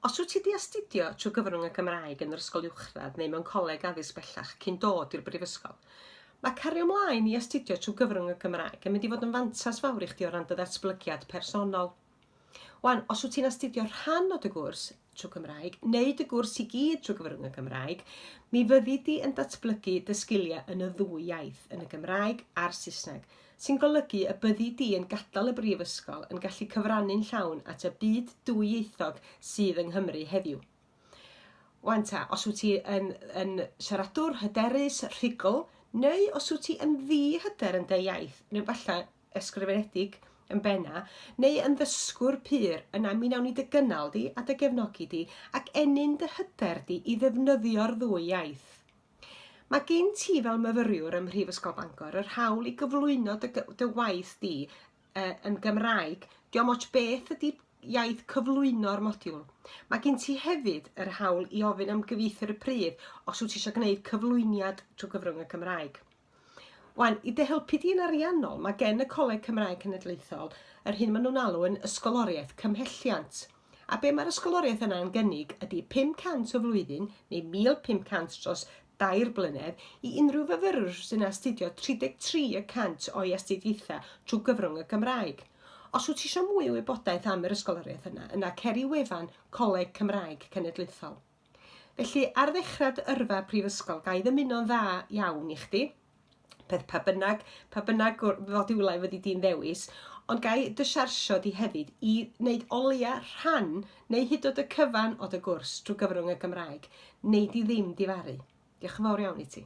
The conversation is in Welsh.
Os wyt ti wedi astudio trwy gyfrwng y Gymraeg yn yr ysgol uwchradd neu mewn coleg addysg bellach cyn dod i'r brifysgol, mae cario ymlaen i astudio trwy gyfrwng y Gymraeg yn mynd i fod yn fantas fawr i chdi o ran dy ddatblygiad personol. Wan, os wyt ti'n astudio rhan o dy gwrs, trwy Cymraeg, neu dy gwrs i gyd trwy gyfrwng y Gymraeg, mi fyddi di yn datblygu dy sgiliau yn y ddwy iaith, yn y Gymraeg a'r Saesneg, sy'n golygu y byddi di yn gadael y brifysgol yn gallu cyfrannu'n llawn at y byd dwyieithog sydd yng Nghymru heddiw. Wan ta, os wyt ti yn, yn siaradwr hyderus, rhugl, neu os wyt ti yn ddi-hyder yn dy iaith, neu falle ysgrifenedig yn benna, neu yn ddysgwr pur, yna mi nawn ni dy gynnal di a dy gefnogi di, ac ennyn dy hyder di i ddefnyddio'r ddwy iaith. Mae gen ti fel myfyriwr ym Mhrifysgol Bangor yr hawl i gyflwyno dy, dy waith di uh, yn Gymraeg. Diolch moch beth ydy iaith cyflwyno'r modiwl. Mae gen ti hefyd yr hawl i ofyn am gyfieithwyr y pridd os wyt ti eisiau gwneud cyflwyniad trwy gyfrwng y Gymraeg. Wan, i dy helpu di yn ariannol, mae gen y Coleg Cymraeg Cenedlaethol yr hyn maen nhw'n alw yn ysgoloriaeth cymhelliant. A be mae'r ysgoloriaeth yna yn gynnig ydy 500 o flwyddyn neu 1500 dros dair blynedd i unrhyw fyfyrwr sy'n astudio 33 y cant o'i astudiaethau trwy gyfrwng y Gymraeg. Os wyt ti eisiau mwy o wybodaeth am yr ysgoloriaeth yna, yna cer i wefan Coleg Cymraeg Cenedlaethol. Felly, ar ddechrau dy yrfa prifysgol, ga i ddymuno'n dda iawn i chdi, peth pa bynnag, pa bynnag fodiwlau fyddi di'n ddewis, ond ga i dy siarsio di hefyd i wneud o leia rhan neu hyd od y cyfan o dy gwrs drwy gyfrwng y Gymraeg, wnei di ddim difaru. Diolch yn fawr iawn i ti.